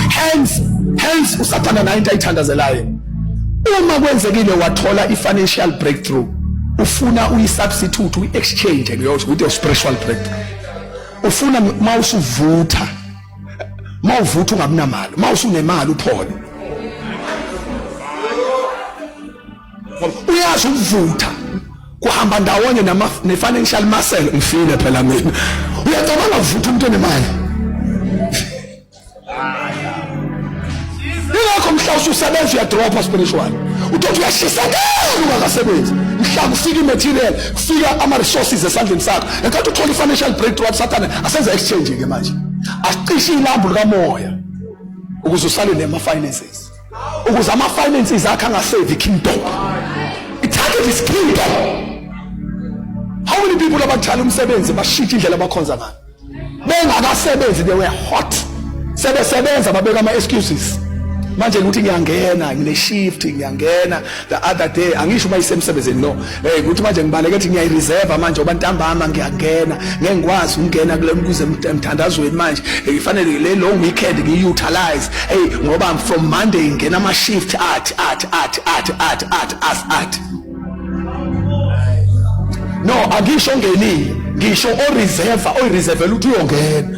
hence hence usathana nayo into ayithandazelayo uma kwenzekile wathola i-financial breakthrough ufuna uyi-substitute uyi-exchange ngiyosho ukuthi u-spiritual breakthrough ufuna uma usuvutha uma uvutha ungabinamali uma usunemali uphole uyazi ukuvutha kuhamba ndawonye ne-financial muscle ngifile phela mina uyacabanga kuvutha umuntu onemali yilokho mhla ususebenza uyadropha spiritual utothi uyashisakela ungakasebenzi mhla kufika imaterial kufika ama-resources esandleni sakho enkathi uthola i-financial breakthrough athi sathane asenza exchange-ke manje asicishe ilambu likamoya ukuze usale nema-finances ukuze ama-finances akhe angasevi kingdom i-target is kingdom how many people abakuthala umsebenzi bashintshe indlela abakhonza ngayo bengakasebenzi they were hot sebesebenza babeka ama excuses manje ukuthi ngiyangena ngine shift ngiyangena the other day angisho uma isemsebenzini no hey ukuthi manje ngibaleke ukuthi ngiyayi reserve manje oba ntambama ngiyangena ngeke ngikwazi ukungena kule mkuze emthandazweni manje ngifanele le long weekend ngiyi utilize hey ngoba from monday ngena ama shift athi athi athi athi athi athi athi no angisho ongenile ngisho oreserva oyireservela ukuthi uyongena